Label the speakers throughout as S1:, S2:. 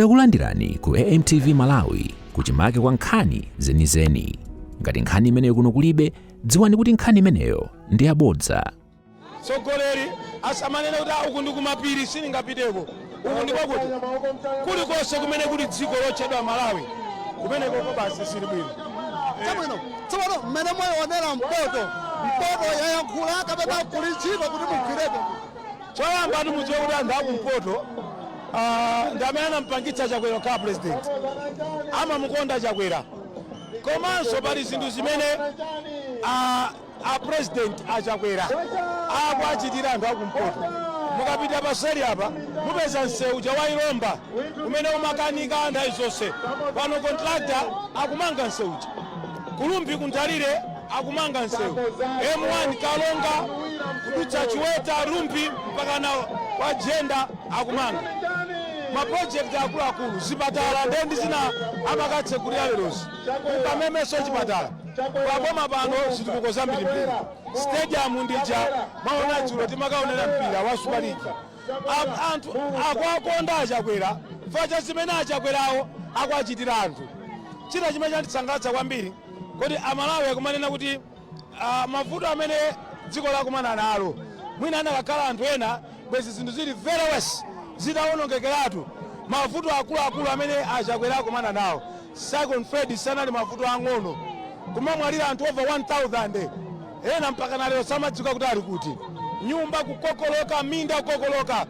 S1: Takulandirani ku AMTV Malawi kuchimake kwa nkhani zenizeni. Ngati nkhani imeneyo kuno kulibe, dziwani kuti nkhani imeneyo ndi yabodza. tsogoleri
S2: asamanene kuti "Ah, uku ndi kumapiri sindingapiteko uku ndi kwakuti kulikonse kumene kuli dziko lotchedwa malawi kumenekoko basi zili bwino chabwino
S3: tsopano mmene mwaionera mpoto mpoto yayankhula kapena kuli ntchito kuti mugwireko Choyamba
S2: ndi choti mudziwe kuti anthu akumpoto ah, ndi amene anampangitsa chakwera kukhala president amamukonda chakwera komanso pali zinthu zimene ah, a president a chakwera akuachitira anthu akumpoto mukapita paseli apa mupeza msewu uja wa ilomba umene umakanika nthawi zonse pano kontrakta akumanga msewu uja Ku Rumphi ku Nthalire akumanga msewu M1 Karonga kudutsa Chiweta, Rumphi mpaka na kwa Jenda akumanga ma project akuluakulu zipatala nde ndi zina amakatsekulira lerozi ukamemeso chipatala paboma pano zitukuko zambirimbiri stadium ndija mwaona dzulo timakaonera mpira wa super league Am- anthu akuwakonda a Chakwera chifukwa cha zimene achakwerawo akuwachitira anthu china chimene chandisangalatsa kwambiri kuti amalawi akumanena kuti ah, mavuto amene dziko lakumana nalo mwina anakakhala anthu ena bwezi zinthu zili very worse zitawonongekeratu mavuto akuluakulu amene a Chakwera akumana nawo Cyclone Freddy sanali mavuto ang'ono kumamwalira anthu over 1000 Ena mpakana lero samadziwika kuti ali kuti. Nyumba kukokoloka, minda kukokoloka.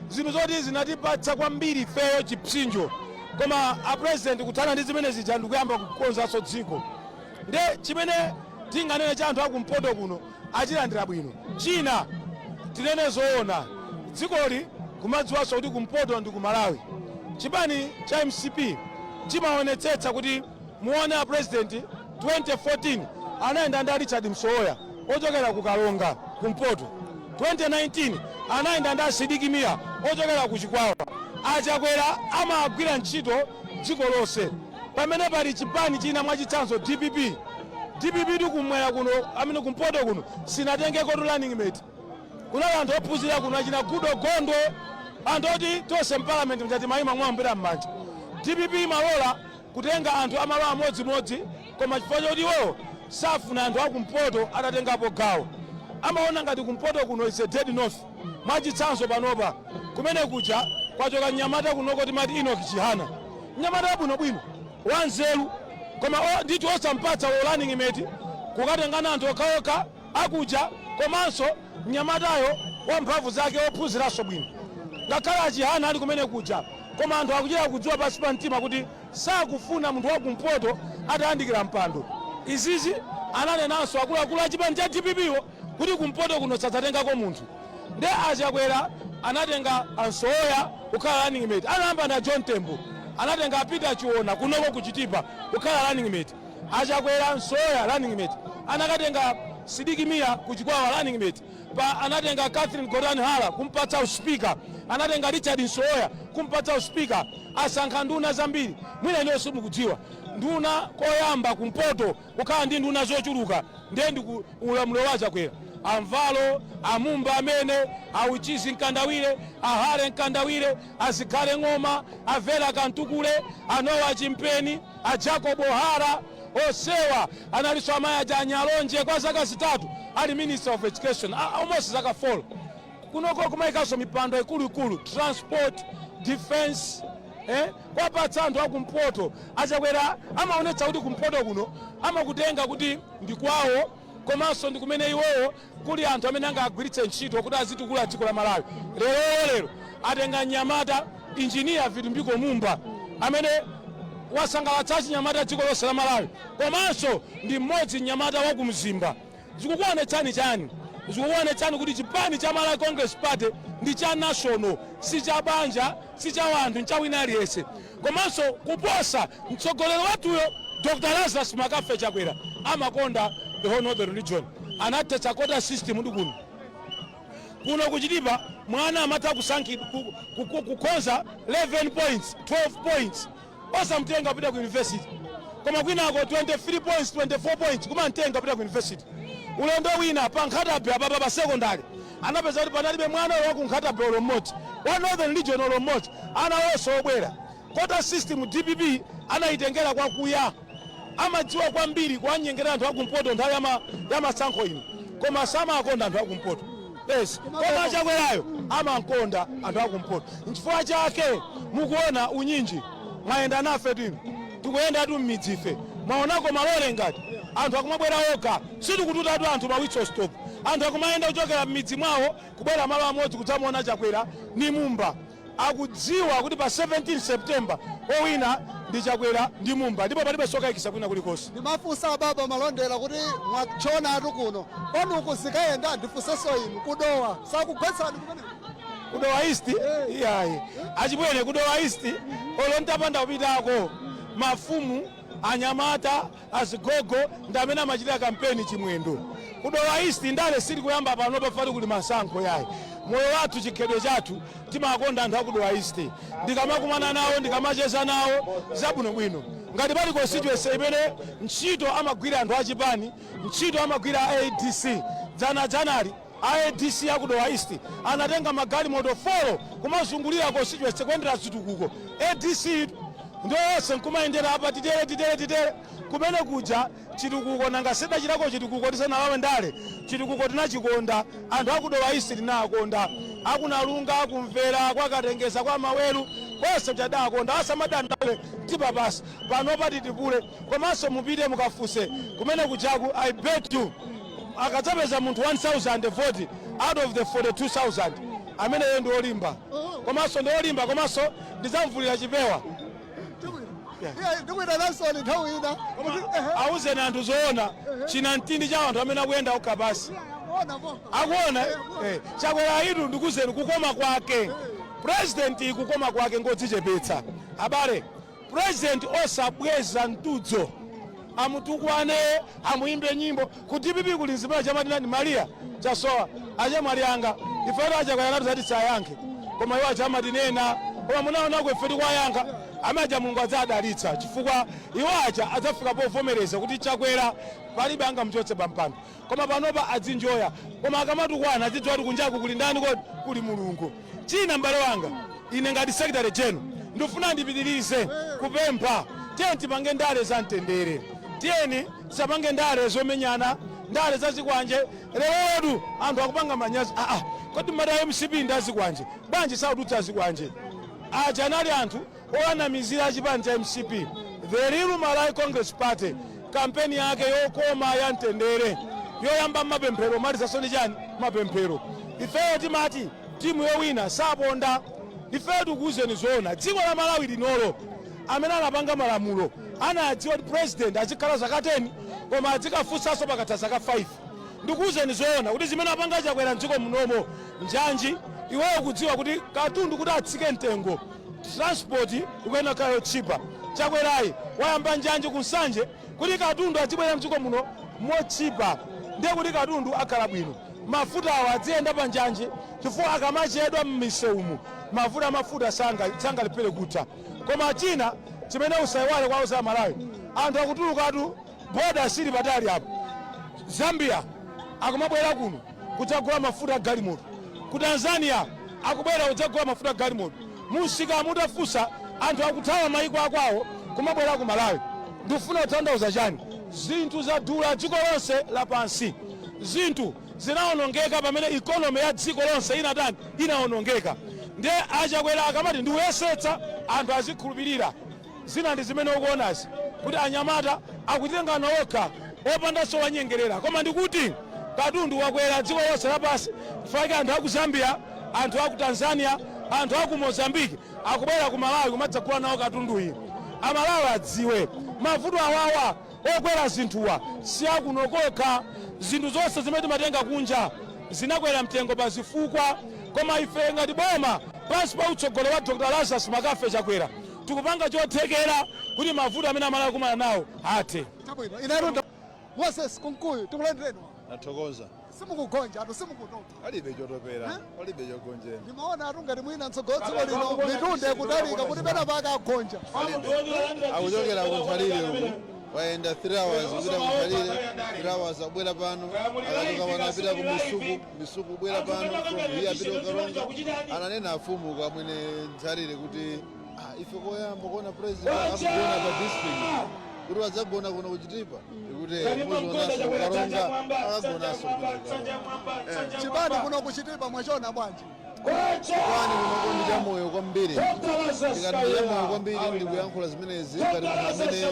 S2: Zinthu zoti zinatipatsa kwambiri ifeyo chipsinjo. Koma a President kuthana ndi zimene zija ndi kuyamba kukonzanso dziko. Ndiye chimene tinganene cha anthu a kumpoto kuno achilandira bwino. China tinene zoona, dzikoli kumadziwanso kuti kumpoto ndi ku Malawi. Chipani cha mcp chimaonetsetsa kuti. Muone a president 2014 anayenda ndi a Richard Msowoya ochokera ku Karonga kumpoto, 2019 anayenda ndi a Sidiki Mia ochokera ku Chikwawa. A Chakwera amagwira ntchito dziko lonse. Pamene pali chipani china mwachitsanzo dpp, dpp tu kumwera kuno amene kumpoto kuno sinatengeko tu running mate. Kunali anthu ophunzira kuno achina Goodall Gondwe, anthu oti tonse mparliament akati ayima kuwombera m'manja. Dpp imalola kutenga anthu a malo amodzimodzi koma chifukwa choti iwowo safuna anthu akumpoto atatengapo gawo amaona ngati kumpoto kuno is a dead north mwachitsanzo panopa kumene kuja kwachoka mnyamata kunoko timati enoch chihana mnyamata wabwinobwino wanzeru koma o- ndithu osampatsa u running mate kukatengana anthu okhaokha akuja komanso mnyamatayo wa mphamvu zake ophunziranso bwino ngakhale a Chihana ali kumene kuja koma anthu akuchita kudziwa pansi pa mtima kuti sakufuna munthu wa kumpoto atayandikira mpando. Izizi ananenanso akuluakulu a chipani cha dpp wo kuti kumpoto kuno sadzatengako munthu nde a Chakwera anatenga a Msowoya kukhala running mate, anayamba ndi a John Tembo, anatenga a Peter Chiona kunoko ku Chitipa kukhala running mate. A Chakwera, Msowoya running mate, anakatenga Sidiki Mia ku Chikwawa running mate apa anatenga Catherine Gotani Hara kumpatsa u speaker, anatenga Richard Msowoya kumpatsa u speaker, asankha nduna zambiri. Mwina inuyo simukudziwa nduna koyamba kumpoto kukhala ndi nduna zochuluka ndiye ndi ku ulamuliro wa a Chakwera. A Mvalo, a Mumba amene, a Uchizi Mkandawire, a Harry Mkandawire, a Zikhale Ng'oma, a Vera Kamtukule, a Noah Chimpeni, a Jacob Hara, onsewa analinso amayi aja a Nyalonje kwa zaka zitatu ali Minister of Education, a- almost zaka 4. Kunoko kumayikanso mipando ikuluikulu, transport, defense, eh, kuwapatsa anthu akumpoto a Chakwera amaonetsa kuti kumpoto kuno amakutenga kuti ndi kwawo komanso ndi kumene iwowo Kuli anthu amene angagwiritse ntchito kuti azitukula dziko la Malawi. Leroli lero atenga mnyamata Engineer Vitumbiko Mumba amene wasangalatsa achinyamata dziko lonse la Malawi komanso ndi mmodzi mnyamata wa ku Mzimba. Zikukuonetsani chani? Zikukuonetsani kuti chipani cha Malawi Congress Party ndi cha national si cha banja. si cha wanthu ncha wina aliyense komanso kuposa mtsogoleri wathuyo Dr Lazarus McCarthy Chakwera amakonda the whole northern region anathetsa quota system ndi kuno kuno ku Chitipa mwana amatha kukhoza 11 points 12 points osamtenga kupita ku university koma kwinako 23 points 24 points kumamtenga kupita ku university ulendo wina pa Nkhata Bay apapa pa secondary anapeza kuti panalibe mwana olo wa ku Nkhata Bay olo mmodzi wa northern region olo mmodzi ana onse obwera quota system dpp anayitengera kwakuya amadziwa kwambiri kuwanyengerera anthu akumpoto nthawi ya ma- ya masankho ino koma samakonda anthu akumpoto yes koma a Chakwerayo amakonda anthu akumpoto nchifukwa chake mukuona unyinji mwayenda nafe tino tikuyendatu mmidzife mwaonako malole ngati anthu akumabwera okha sitikututatu anthu ma whistle stop anthu akumayenda kuchokera mmidzi mwawo kubwera malo amodzi kudzamuona Chakwera ni Mumba akudziwa kuti pa 17 September owina ndi Chakwera ndi Mumba ndipo palibe zokaikitsa kwina kulikonse. Ndimafunsa a
S3: Baba Malondera kuti mwatchonatu kuno kwanuku zikayenda ndifunsenso inu ku Dowa sakugwetsani kumeneko ku Dowa
S2: East iyayi achimwene ku Dowa East olo ntapanda kupitako mafumu anyamata Azigogo ndi amene amachitira kampeni chimwendo ku Dowa East ndale sitikuyamba pano poti kuli masankho yayi moyo wathu chikhalidwe chathu timakonda anthu aku Dowa East ndikamakumana nawo ndikamacheza nawo zabwinobwino ngati pali constituency imene ntchito amagwira anthu achipani ntchito amagwira a adc dzanadzanali A adc aku Dowa East anatenga magalimoto folo kumazungulira constituency kuyendera zitukuko. Adc-tu ndiyo yonse nkumayendera apa titere titere titere kumene kuja chitukuko nanga tidachitako chitukuko tisanalowe ndale chitukuko tinachikonda anthu aku Dowa East tinawakonda aku Nalunga aku Mvera kwa Katengeza kwa Maweru konse tidawakonda asamadandaule tipa pasi panopa titipule komanso mupite mukafunse kumene kujaku i bet you akadzapeza munthu 1000 vote out of the 42000 ameneyo ndi olimba komanso ndi olimba komanso ndidzamvulira chipewa ndikuita nasoni nthawi ina awuzeni anthu zoona chinamtindi cha anthu amene akuyenda okha pasi akuona eh, Chakwerayitu ndikuuzeni kukoma kwake president kukoma kwake ngodzichepetsa abale President osabweza mtudzo amutukwane amuyimbe nyimbo ku dpp kuli nzimana chamati nani maria chasowa achemwali anga ifeto a Chakwera anatiuza tisayankhe koma iwo aja amatinena koma munaonako ife tikuwayankha amene aja mulungu adzadalitsa chifukwa iwo aja adzafika povomereza kuti chakwera palibe angamuchotse pampando Koma panopa adzinjoya. Koma akamatukwana adzidziwa kuti kunjaku kuli ndani kodi? Kuli Mulungu. China m'bale wanga, ine ngati Secretary General ndifuna ndipitirize kupempha tiyeni tipange ndale za mtendere. Tiyeni tisapange ndale zomenyana, ndale za zikwanje. Lerotu anthu akupanga manyazi. Aa, kodi mumati a mcp ndi azikwanje? Bwanji sakutulutsa zikwanje? Aja anali anthu onamizira a chipani cha mcp the real malawi congress party kampeni yake yokoma ya mtendere yoyamba ndi mapemphero kumalizanso ndi chani mapemphero ifeyo timati timu yowina saponda ifeyo tikuwuzeni zoona dziko la malawi linolo amene anapanga malamulo anadziwa kuti president azikhala zaka 10 koma adzikafunsanso pakatha zaka 5 Ndikuuzeni zoona kuti zimene wapanga Chakwera m'dziko munomo njanji. Iweyo ukudziwa kuti katundu kuti atsike mtengo transport ikuyenera kukhala yotchipa. Chakwerayi wayamba njanji ku Nsanje kuti katundu adzibwera m'dziko muno motchipa ndiye kuti katundu akhala bwino. Mafutawo adziyenda pa njanji chifukwa akamachedwa m'misewumu mavuto a mafuta sangalephere kutha. Koma china chimene usaiwale kuwauza Amalawi, anthu akutulukatu. Boda sili patali apa. Zambia akumabwera kuno kudzagula mafuta a galimoto. Ku Tanzania akubwera kudzagula mafuta a galimoto. Mumsikamu mutafunsa, anthu akuthawa mayiko a kwawo kumabwera ku Malawi. Ndikufuna kutanthauza chani? Zinthu zadula dziko lonse lapansi. Zinthu zinawonongeka pamene economy ya dziko lonse inatani? Inawonongeka. Ndiye a Chakwera akamati ndiuyesetsa anthu azikhulupirira, Zina ndi zimene ukuonazi kuti anyamata akutengana okha opandanso owanyengerera koma ndikuti katundu wakwera dziko lonse lapansi chifukwa chake anthu aku Zambia, anthu aku Tanzania, anthu aku Mozambique akubwera ku Malawi kumadzagula nawo katunduyi. Amalawi adziwe mavuto awawa. Okwera zinthuwa si akuno kokha. Zinthu zonse zimene timatenga kunja zinakwera mtengo pa zifukwa. Koma ife ngati boma pansi pa utsogoleri wa Dr Lazarus McCarthy Chakwera tikupanga chothekera kuti mavuto amene Amalawi akumana nawo athe. Chabwino.
S3: Moses Kunkuyu tikulandireni. Ndathokoza.
S4: simukugonjatu
S3: simukutopa palibe
S4: chotopera Eh? palibe chogonjera ndimaonatu ngati
S3: mwina mtsogolo dziko lino mitunde kutalika kuti
S4: pena
S3: pake agonja akuchokera kunthalire
S4: uku wayenda 3 hours kupita kunthalire 3 hours abwera pano akachoka pano apita ku misuku misuku abwera pano iye apita ku Karonga ananena afumu uko a Mwenenthalire kuti Ah, ife koyamba kuona president akugona pa district kuti wadzagona kuno kuchitipa ndikuti muzionanso ku Karonga akagonanso kuno
S3: chipani kuno kuchitipa mwachona bwanji chipani
S4: kunoko ndi chamoyo kwambiri tikati ndi chamoyo kwambiri ndi kuyankhula zimenezi ngati munthu amene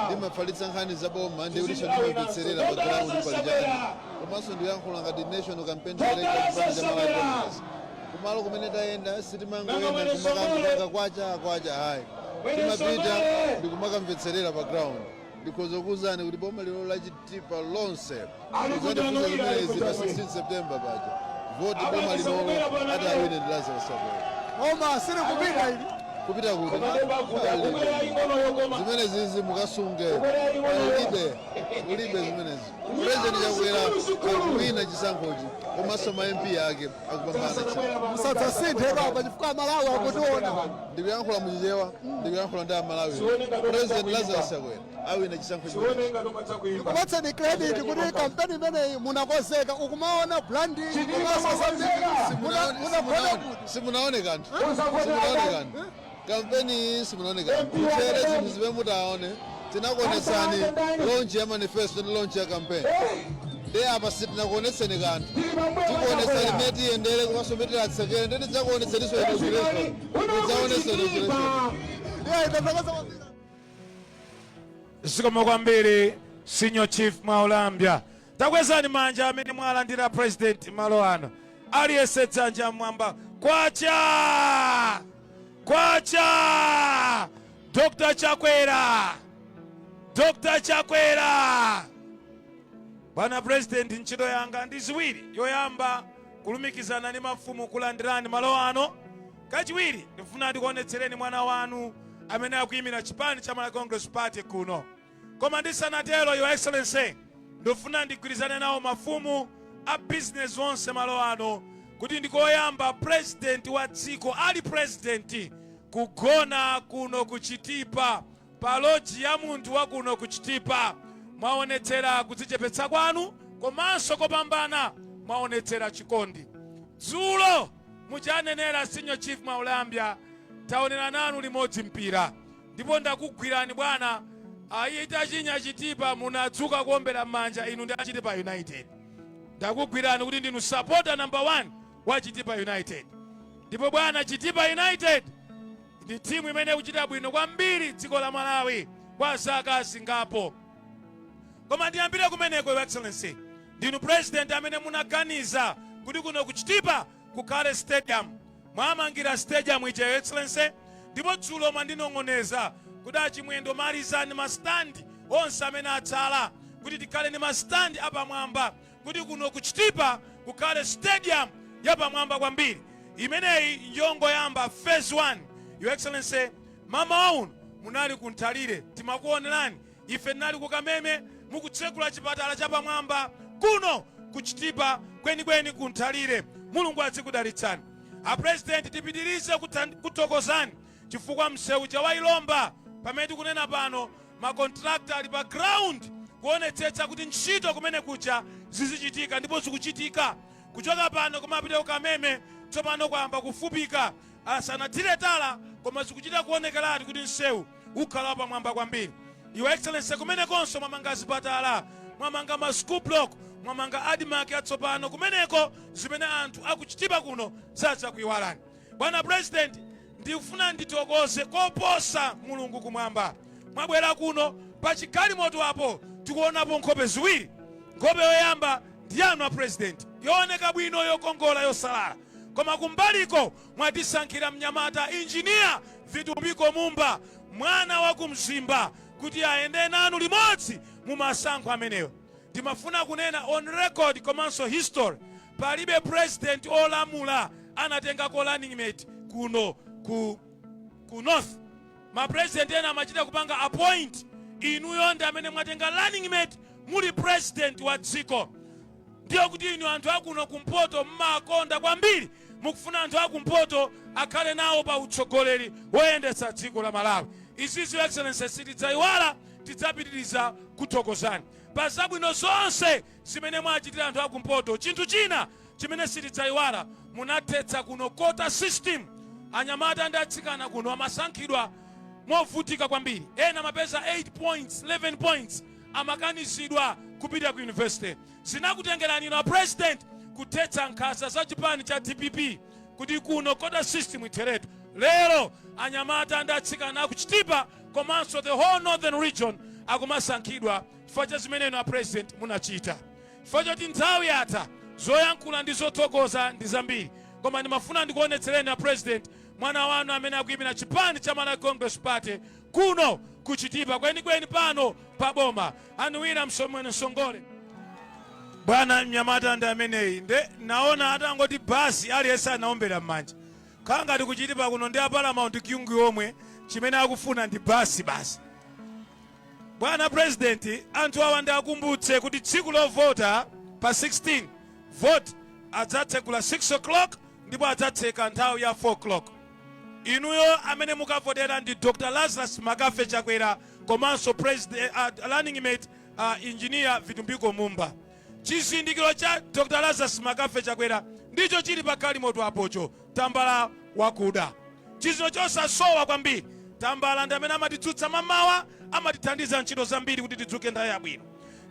S4: ndimafalitsa nkhani za boma ndikutinso ndimamvetsera pa ground pali chani komanso ndikuyankhula ngati national campaign director chipani cha malawi congress Kumalo kumene tayenda sitimangoyenda nkumakangopanga kwacha kwacha ayi. Timapita ndikumakamvetserera pa ground. Ndikhoza kukuuzani kuti boma linolo la Chitipa lonse mudzandifunsa zimenezi pa 16 September paja voti boma linolo ati awine ndi Lazarus Chakwera. Koma
S3: silikupita ili. Kupita kuti?
S4: Palibe. Zimenezizi mukasunge. Palibe. Kulibe zimenezi. President Chakwera akuwina chisankhochi komanso ma MP ake akupambana musadzasinthe
S3: baba chifukwa amalawi akutiona ndikuyankhula mu
S4: Chichewa ndikuyankhula ndi amalawi President Lazarus Chakwera awina chisankho chimenechi
S3: ndikupatseni credit kuti kampeni imeneyi munakonzeka ukumaona branding komanso zambiri Simunaone-
S4: simunaone- simunaone kanthu simunaone kanthu Kampeni iyi simunaone nkutchere zinthu zimene mutaone tinakuonetsani launch ya manifesto ndi launch ya campaign ndiye apa sitinakuonetseni kanthu tikuonetsani mmene tiyendere komanso mmene tilatsekere ndiye tidzakuonetseninso inauguration mudzaonenso
S2: inauguration zikomo kwambiri senior chief mwaulambya Takwezani manja amene mwalandira president malo ano. Aliyense dzanja mmwamba. Kwacha! Kwacha! Dr. Chakwera! Dr. Chakwera! Bwana president ntchito zanga ndi ziwiri. Yoyamba kulumikizana ndi mafumu kulandirani malo ano. Kachiwiri ndifuna ndikuonetsereni mwana wanu amene akuyimira chipani cha Malawi Congress Party kuno. Koma ndisanatero, Your Excellency, ndifuna ndigwirizane nawo mafumu a bizinesi onse malo ano kuti ndi koyamba purezidenti wa dziko ali purezidenti kugona kuno ku Chitipa pa loji ya munthu wa kuno ku Chitipa. Mwaonetsera kudzichepetsa kwanu komanso kopambana mwaonetsera chikondi. Dzulo muja anenera Senior Chief Mwaulambya taonera nanu limodzi mpira Ndipo ndakugwirani bwana itachinya Chitipa munadzuka kuombera mmanja inu ndi a Chitipa United. Ndakugwirani kuti ndinu supporter number 1 wa Chitipa United. Ndipo bwana Chitipa United ndi timu imene ikuchita bwino kwambiri dziko la Malawi kwa zaka zingapo. Koma ndiyambire kumeneko Your Excellency. Ndinu president amene munaganiza kuti kuno ku Chitipa kukhale stadium. Mwamangira stadium ija your excellency ndipo dzulo mwandinong'oneza kuti a Chimwendo malizani ma stand onse amene atsala kuti tikhale ndi ma stand apamwamba kuti kuno ku Chitipa kukhale stadium yapamwamba kwambiri. Imeneyi yongoyamba phase one. Your excellency mmawa uno munali ku Nthalire timakuonerani Ife tinali ku Kameme mukutsekula chipatala chapamwamba kuno ku Chitipa kwenikweni ku Nthalire. Mulungu adzikudalitsani. A President tipitilize kuthokozani chifukwa mseu uja wa Ilomba pamene tikunena pano ma contractor ali pa ground kuonetsetsa kuti ntchito kumene kuja zizichitika ndipo zikuchitika. Kuchoka pano komapita ku Kameme tsopano kwayamba kufupika. Asanathire tala koma zikuchita kuonekeratu kuti mseu. ukhala wapamwamba kwambiri your excellency kumenekonso mwamanga zipatala mwamanga ma school block mwamanga Admarc yatsopano kumeneko zimene anthu akuchitipa kuno sadzakuyiwalani bwana president ndikufuna ndithokoze koposa mulungu kumwamba mwabwera kuno pa chigalimoto apo tikuonapo nkhope ziwiri nkhope yoyamba ndi yanu a president yooneka bwino yokongola yosalala koma kumbaliko mwatisankhira mnyamata Engineer Vitumbiko Mumba mwana wa ku Mzimba kuti ayende nanu limodzi mu masankho amenewo. Ndimafuna kunena on record komanso history, palibe president olamula anatengako running mate kuno ku, ku north. Ma president ena amachita kupanga appoint, inuyo ndi amene mwatenga running mate muli president wa dziko. ndiye kuti inu anthu akuno kumpoto mmakonda kwambiri mukufuna anthu akumpoto akhale nawo pa utsogoleri woyendetsa dziko la malawi izizi your excellency sitidzayiwala tidzapitiriza kuthokozani pa zabwino zonse zimene mwachitira anthu akumpoto chinthu china chimene sitidzayiwala munathetsa kuno quota system anyamata ndi atsikana kuno amasankhidwa movutika kwambiri ena mapeza 8 points 11 points amakanizidwa kupita ku university zinakutengerani inu a president kuthetsa nkhanza za chipani cha dpp kuti kuno quota system itheretu lero anyamata ndi atsikana akuchitipa komanso the whole northern region akumasankhidwa chifukwa cha zimene inu a president munachita chifukwa choti nthawi yatha zoyankhula ndi zothokoza ndi zambiri koma ndimafuna ndikuonetsereni a president mwana wanu amene akuyimira chipani cha malawi congress party Kuno ku Chitipa kwenikweni pano pa boma a Winala Msomweni Msongole. Bwana mnyamata ndi ameneyi nde naona atangoti bus aliyense anaombera m'manja. Khala ngati ku Chitipa kuno ndi a Paramount Kyungu omwe chimene akufuna ndi bus basi. Bwana President anthu awa ndi akumbutse kuti tsiku lovota pa 16 vote adzatsegula 6 o'clock ndipo adzatseka nthawi ya 4 o'clock. Inuyo amene mukavotera ndi Dr Lazarus McCarthy Chakwera komanso presd a running mate a Engineer Vitumbiko Mumba. Chizindikiro cha Dr Lazarus McCarthy Chakwera ndicho chili pa galimoto apocho, tambala wakuda. Chizindikiro chosasowa kwambiri. Tambala ndi amene amatidzutsa mamawa, amatithandiza ntchito zambiri kuti tidzuke nthawi yabwino.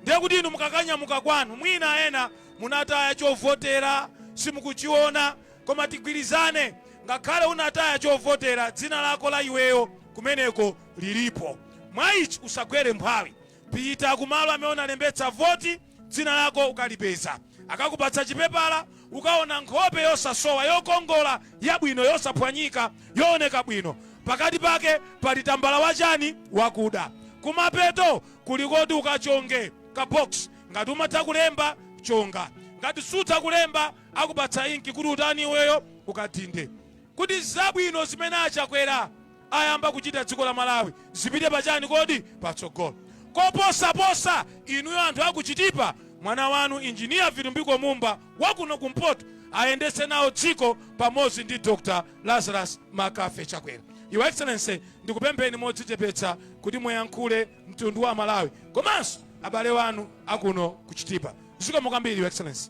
S2: Ndiye kuti inu mukakanyamuka kwanu mwina ena munataya chovotera simukuchiona, koma tigwirizane ngakhale unataya chovotera dzina lako la iweyo kumeneko lilipo mwaich usagwere mphwayi pita kumalo amene unalembetsa voti dzina lako ukalipeza akakupatsa chipepala ukaona nkhope yosasowa yokongola yabwino yosaphwanyika yooneka bwino pakati pake pali tambala wachani wakuda kumapeto kuli koti ukachonge ka box ngati umatha kulemba chonga ngati sutha kulemba akupatsa inki kuti utani iweyo ukadhinde kuti zabwino zimene achakwera ayamba kuchita dziko la malawi zipite pachani kodi patsogolo koposaposa inuyo anthu akuchitipa mwana wanu injiniya vitumbiko mumba wakuno kumpoto ayendetse nawo dziko pamodzi ndi dr lazarus mccarthy chakwera your excellency ndikupempheni modzichepetsa kuti muyankhule mtundu wa malawi komanso abale wanu akuno kuchitipa zikomo kwambiri your excellency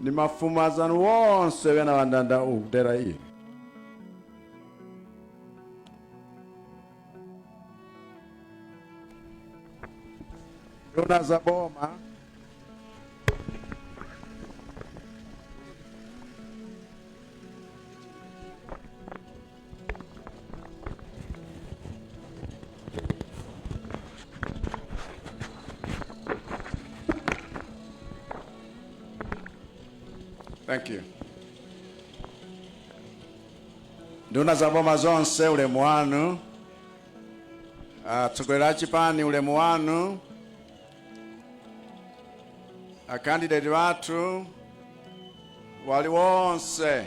S5: ndi mafumu azanu wonse wena wandanda ukudera inu nduna za boma Thank you. Nduna za boma zonse ulemu wanu. Atsogoleri a chipani ulemu wanu. Akandideti wathu aliwonse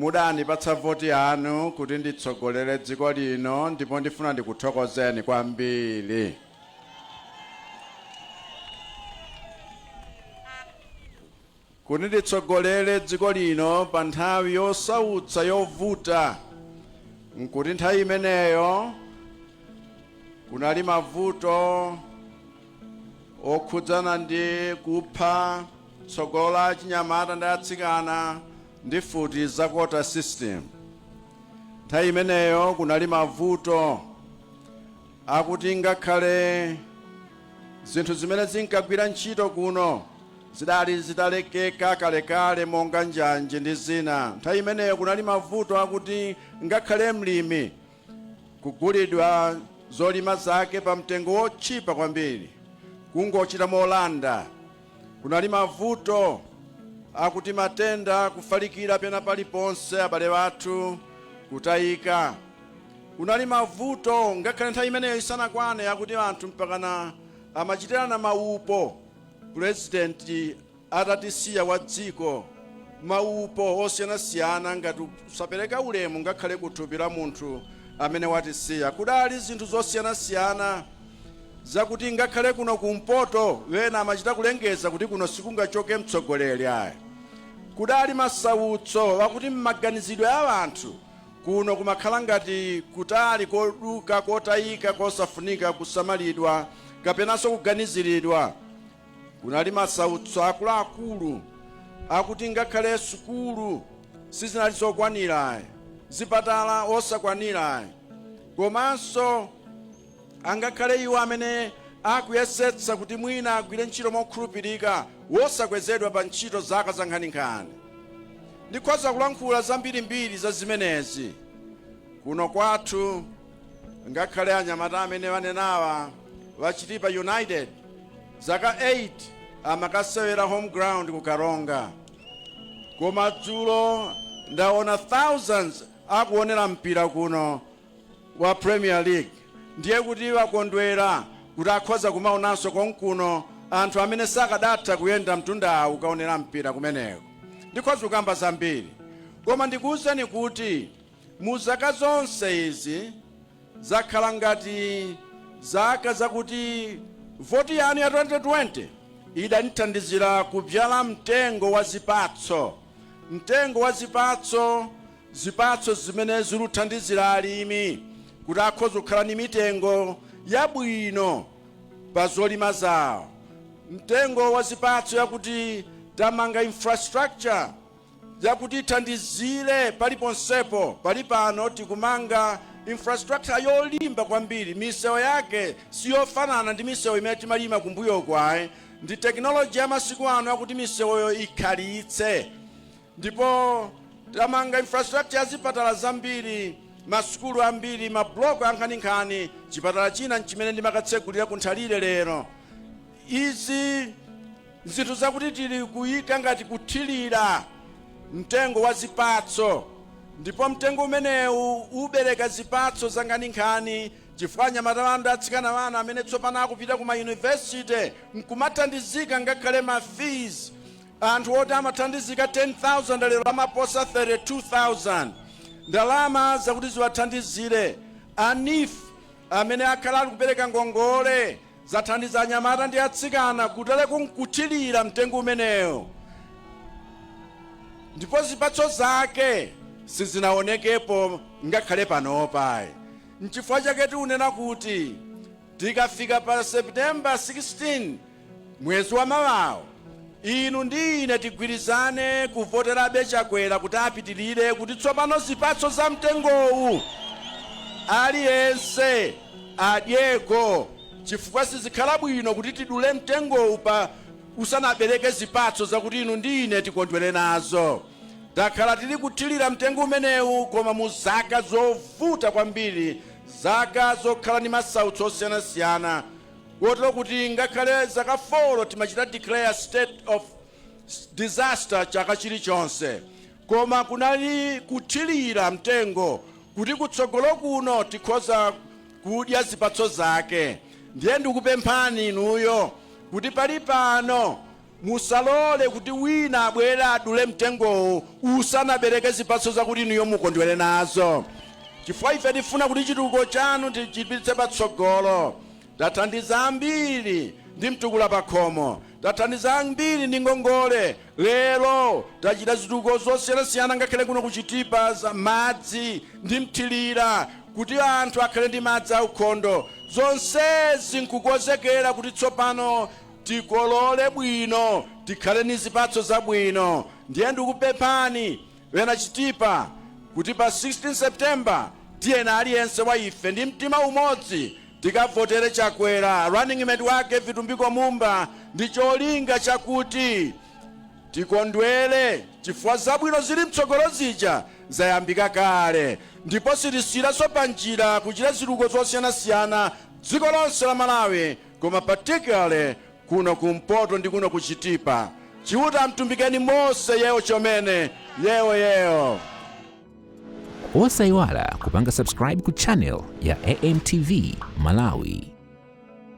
S5: Mudandipatsa voti yanu kuti nditsogolere dziko lino ndipo ndifuna ndikuthokozeni kwambiri. Kuti nditsogolere dziko lino pa nthawi yosautsa yovuta n'kuti nthawi imeneyo kunali mavuto okhudzana ndi kupha tsogolo la achinyamata ndi atsikana ndi mfuti za quota system. Nthawi imeneyo kunali mavuto akuti ngakhale zinthu zimene zinkagwira ntchito kuno zidali zitalekeka kalekale monga njanje ndi zina. Nthawi imeneyo kunali mavuto akuti ngakhale mlimi kugulidwa zolima zake pa mtengo wotchipa kwambiri, kungochita molanda. Kunali mavuto akuti matenda kufalikira pena paliponse, abale athu kutayika. Kunali mavuto ngakhale nthawi imeneyo isanakwane akuti anthu mpakana amachitirana maupo pulezidenti atatisiya wa dziko, maupo osiyanasiyana ngati kusapereka ulemu ngakhale ku thupi la munthu amene watisiya. Kudali zinthu zosiyanasiyana zakuti ngakhale kuno kumpoto wena amachita kulengeza kuti kuno sikungachoke mtsogoleri ayi. Kudali masautso wakuti m'maganizidwe a wanthu kuno kumakhala ngati kutali koduka, kotayika, kosafunika kusamalidwa kapenanso kuganiziridwa. Kunali masautso akuluakulu akuti ngakhale sukulu sizinali zokwanira, zipatala osakwanira, komanso angakhale iwo amene akuyesetsa kuti mwina agwire ntchito mokhulupirika wosakwezedwa pa ntchito zaka zankhaninkhani. Ndikhoza kulankhula zambirimbiri za zimenezi kuno kwathu. ngakhale anyamata amene wanenawa wa chitipa united zaka 8 amakasewera home ground ku karonga koma dzulo ndaona thousands akuonera mpira kuno wa premier league ndiye kuti wakondwera kuti akhoza kumaonanso konkuno anthu amene sakadatha kuyenda mtunda kukaonera mpira kumeneko ndikhoza kukamba zambiri koma ndikuwuzeni kuti Mu zaka zonse izi zakhala ngati zaka zakuti voti yanu ya 2020 idanithandizila kubzyala mtengo wa zipatso, mtengo wa zipatso, zipatso zimene ziluthandizila alimi kuti akhoza kukhala ni mitengo yabwino pa zolima zawo, mtengo wa zipatso yakuti tamanga infrastructure yakuti ithandizire paliponsepo. Palipano tikumanga infrastructure yolimba kwambiri. Misewu yake si yofanana ndi misewu imene timalima kumbuyoku ayi. Ndi technology ya masiku ano yakuti misewuyo ikhalitse. Ndipo tamanga infrastructure ya zipatala zambiri, masukulu ambiri, mablock ankhaninkhani. Chipatala china n'chimene ndimakatsegulira ku Nthalire lero. Izi Zinthu zakuti tili kuika ngati kuthilira mtengo wa zipatso ndipo mtengo umenewu ubereka zipatso zankhaninkhani chifukwa anyamata anu atsikana anu amene tsopano akupita ku ma university nkumathandizika ngakhale ma fees anthu oti amathandizika 10,000 lero amaposa 32,000 ndalama zakuti ziwathandizire a neef amene akhala ali kupereka ngongole zathandiza anyamata ndi atsikana kutereku nkuthilira mtengo umenewo ndipo zipatso zake sizinaonekepo ngakhale panopa nchifukwa chake tiunena kuti tikafika pa september 16 Mwezi wa mawawo inu ndi ine tigwirizane kuvoterabe Chakwera kuti apitilire kuti tsopano zipatso za mtengowu aliyense adyeko chifukwa sizikhala bwino kuti tidule mtengowu pa usanabereke zipatso zakuti inu ndi ine tikondwere nazo. Takhala tili kuthilira mtengo umenewu koma mu zaka zovuta kwambiri, zaka zokhala ndi masautso osiyanasiyana, kotero kuti ngakhale zaka foro timachita declare state of disaster chaka chilichonse, koma kunali kuthilira mtengo kuti kutsogolo kuno tikhoza kudya zipatso zake, ndiye ndikupemphani inuyo kuti pali pano, Musalole kuti wina abwere adule mtengowu usanabereke zipatso zakuti inuyo mukondwere nazo, chifukwa ife tifuna kuti chitukuko chanu tichipititse patsogolo. Tathandiza ambiri ndi Mtukula Pakhomo. Tathandiza ambiri ndi ngongole. Lero tachita zitukuko zosiyanasiyana ngakhale kuno ku Chitipa za madzi ndi mthirira kuti anthu akhale ndi madzi aukhondo. Zonsezi n'kukonzekera kuti tsopano. tikolole bwino tikhale ni zipatso zabwino ndiye ndikupemphani ŵena chitipa kuti pa 16 September tiyeni aliyense wa ife ndi mtima umodzi tikavotere chakwera running mate wake vitumbiko mumba ndi cholinga chakuti tikondwere chifukwa zabwino zili mtsogolo zija zayambika kale ndipo sitisiyiraso pa njira kuchita zitukuko zosiyanasiyana dziko lonse la malawi koma particularly kuno kumpoto ndi kuno ku chitipa chiuta amtumbikeni mose yewo chomene yewo yewo
S1: osayiwala kupanga subscribe ku channel ya amtv malawi